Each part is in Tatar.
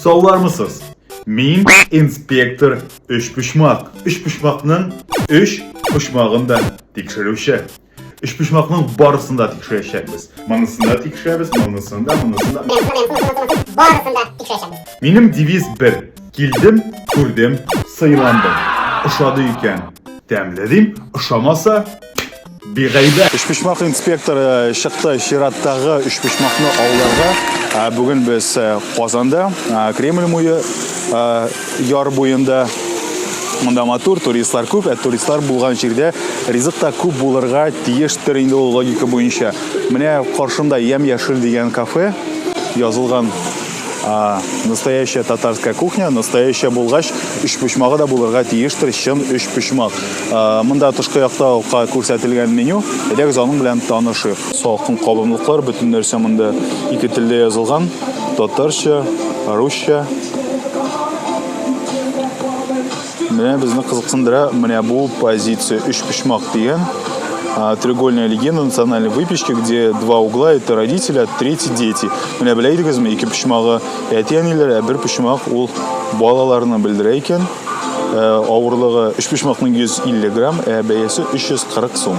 Саулармысыз? Мин инспектор Өчпочмак. Өчпочмакның өч почмагын да тикшерүче. Өчпочмакның барысын да тикшерәчәкбез. Монысын да тикшерәбез, монысын да, монысын да. Барысын да тикшерәчәкбез. Минем девиз бер. Килдем, күрдем, сыйландым. Ошады икән, тәмле дим, ошамаса, Бигайдә. Өчпочмак инспекторы чыкты чираттагы өчпочмакны ауларга. Ә бүген без э, Казанда, э, Кремль муе э, яр буенда Монда матур, туристлар күп, ә туристлар булган җирдә ризык та күп булырга тиештер инде ул логика буенча. Менә каршымда Ям яшел дигән кафе язылган А, настоящая татарская кухня, настоящая булгач, үч почмагы да булырга тиештер, чын үч почмак. А, монда тышкы якта ука күрсәтелгән меню, әйдәгез аның белән танышыйк. Салкын кабымлыклар, бөтен нәрсә монда ике телдә язылган, татарча, русча. Менә безне кызыксындыра менә бу позиция өч почмак дигән треугольная легенда национальной выпечки, где два угла – это родители, а третий – дети. Менә белә идегезме, ике почмагы әти-әниләр, ә бер почмак ул балаларны белдерә икән. Ә, авырлыгы өч почмакның 150 грамм, ә бәясе 340 сум.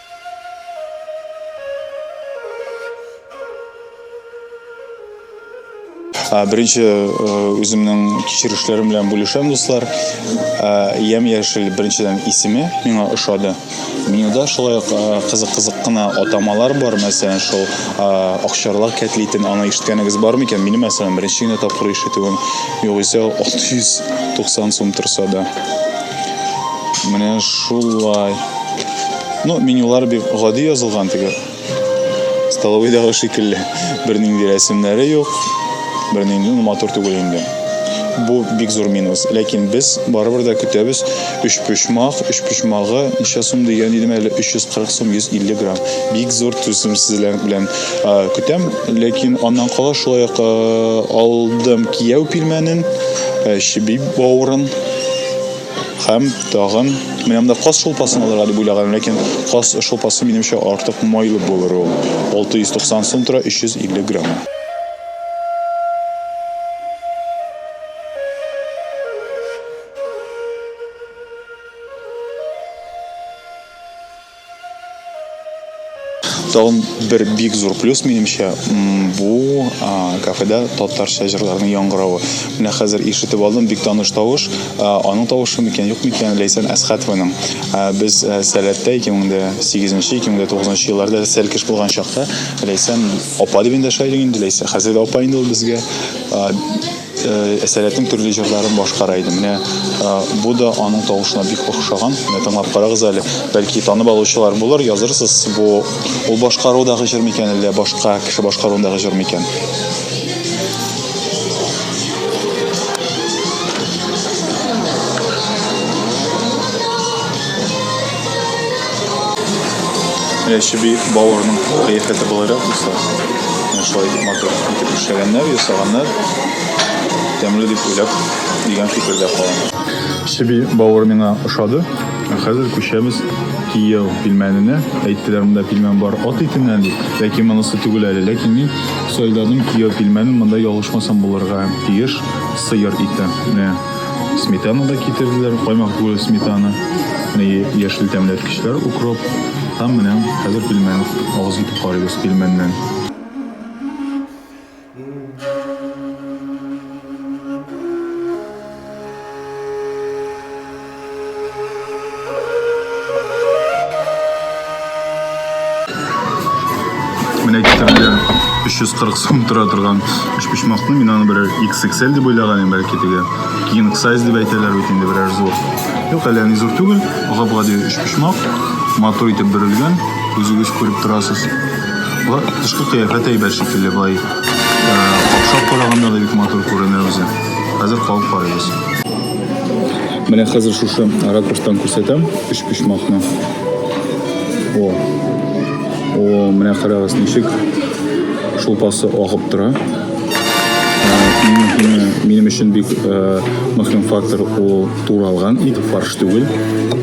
Беренче үземнең кичерешләрем белән бүлешәм, дуслар. Ям яшел беренчедән исеме миңа ошады. Менюда шулай ук кызык-кызык кына атамалар бар, мәсәлән, шул акчарлак кәтлитен, аны ишеткәнегез бармы икән? Минем, мәсәлән, беренче генә тапкыр ишетүем, югыйсә ул 690 сум торса да. Менә шулай. Ну, менюлар бик гади язылган теге. Столовыйдагы шикелле. Бернинди рәсемнәре юк. Бернинди ну, матур түгел инде. Бу бик зур минус. Ләкин без барыбер дә көтәбез. Өч почмак, өч почмагы ничә сум дигән идем әле 340 сум 150 грамм. Бик зур түземсезләр белән а, көтәм. Ләкин аннан кала шулай ук а, алдым кияү пилмәнен, а, чеби бавырын. Һәм тагын, менә монда каз шулпасын алырга дип уйлаганым, ләкин каз шулпасы минемчә артык майлы булыр ул. 690 сум тора 350 грамм. Тагын бер бик зур плюс минемчә, бу кафеда татарча җырларның яңгыравы. Менә хәзер ишетеп алдым, бик таныш тавыш. Аның тавышы микән, юк микән, Ләйсән Әсхәтованың. Без Сәләттә 2008 нче, 2009 нчы елларда сәл кеш булган чакта Ләйсән апа дип эндәшә идек инде, Ләйсә, хәзер дә апа инде ул безгә. Әсәрәтнең төрле җырларын башкара иде. Менә бу да аның тавышына бик охшаган. Менә тыңлап карагыз әле. Бәлки танып алучылар булыр, язырсыз, бу ул башкарудагы җыр микән әллә башка кеше башкаруындагы җыр микән? Яши би бауырының кыяфәте болайрак булса, менә шулай матур итеп эшләгәннәр, ясаганнар. Тәмле дип уйлап, дигән фикердә калам. Чеби бауыр миңа ошады. Ә хәзер күчәбез кияү пилмәненә. Әйттеләр, монда пилмән бар ат итеннән дип. Ләкин монысы түгел әле. Ләкин мин сайладым кияү пилмәнен, монда ялгышмасам булырга тиеш сыер ите. Менә. Сметана да китерделәр, каймак түгел сметана. Менә яшел тәмләткечләр, укроп. Һәм менә хәзер пельмен авыз итеп карыйбыз пельменнән. Менә китерелгән 340 сум тора торган өчпочмакны мин аны берәр XXL дип уйлаган идем, бәлки теге king size дип әйтәләр бит инде берәр зур. Юк, әле ни зур түгел, гап-гади өчпочмак, матур итеп бөрелгән, үзегез күреп торасыз. Ва, тышкы кыяфәт әйбәт шикелле, бай. Э, Капшап караганда да бик матур күренә үзе. Хәзер калып карыйбыз. Менә хәзер шушы ракурстан күрсәтәм өч почмакны. О. О, менә карагыз ничек шулпасы агып тора. Минем өчен бик э, мөһим фактор ул туралган ит, фарш түгел.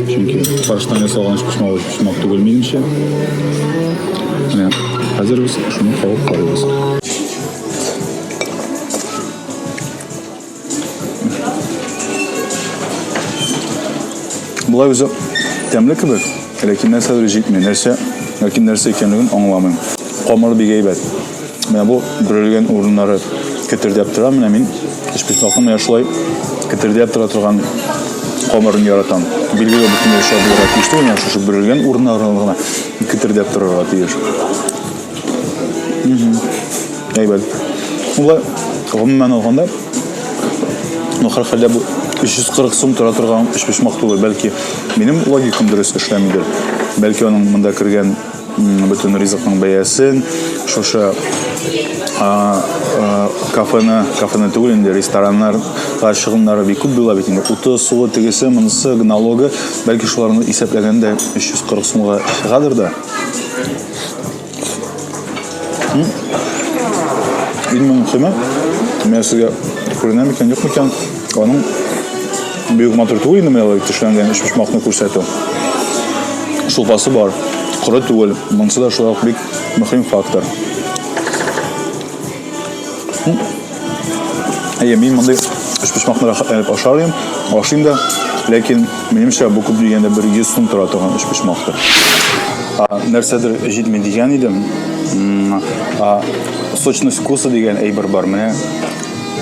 Чөнки фарштан ясалган өч почмак өч почмак түгел минемчә. Менә хәзер без шуны кабып карыйбыз. Болай үзе тәмле кебек, ләкин нәрсәдер җитми. Нәрсә, ләкин нәрсә икәнлеген аңламыйм. Камыр бик әйбәт. Менә бу бөрелгән урыннары кетердәп тора. Менә мин эшписмакны менә шулай кетердәп тора торган камырын яратам. Билгеле бөтен нәрсә булырга тиеш түгел, менә шушы бөрелгән урыннары гына кетердәп торырга тиеш. Әйбәт. Шулай, гомумән алганда, ну, хәрхәлдә бу 340 сум тора торган өчпочмак түгел, бәлки минем логикам дөрес эшләмидер. Бәлки аның монда кергән бөтен ризыкның бәясен, шушы кафены, кафены түгел инде, рестораннар чыгымнары бик күп була бит инде. Уты, суы, тегесе, монысы, налогы, бәлки шуларны исәпләгәндә 340 сумга чыгадыр да. Иң мөһиме, мен сезгә күренәм икән, юк икән, аның бөек матур түгел инде менә алай төшләнгән өч почмакны күрсәтү. Шулпасы бар, коры түгел, монысы да шулай ук бик мөһим фактор. Әйе, мин мондый өч почмакны рәхәт итеп ашарым, ашыйм да. Ләкин минемчә бу күп дигәндә бер 100 сум тора торган өч почмактыр. Нәрсәдер җитми дигән идем. Сочность вкуса дигән әйбер бар. Менә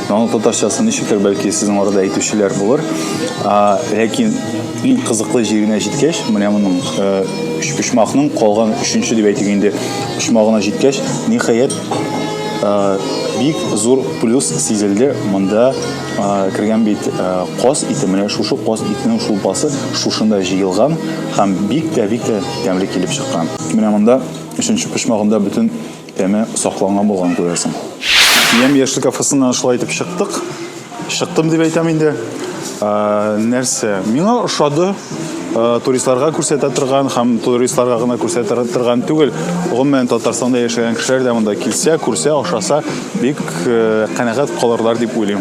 аның татарчасы ничектер, бәлки сезнең арада әйтүчеләр булыр. Ләкин иң кызыклы җиренә җиткәч, менә моның өч почмакның калган өченче дип әйтик инде, почмагына җиткәч, ниһаять, бик зур плюс сизелде монда кергән бит каз ите менә шушы каз итенең шулпасы шушында җыелган һәм бик тә бик тә тәмле килеп чыккан менә монда өченче почмагында бөтен тәме сакланган булган күрәсең яшьлек кафесына шулай итеп чыктык Чыктым дип әйтәм инде. Нәрсә? Миңа ошады. Туристларга күрсәтә торган һәм туристларга гына күрсәтә торган түгел. Гомумән Татарстанда яшәгән кешеләр дә монда килсә, күрсә, ашаса, бик канәгать калырлар дип уйлыйм.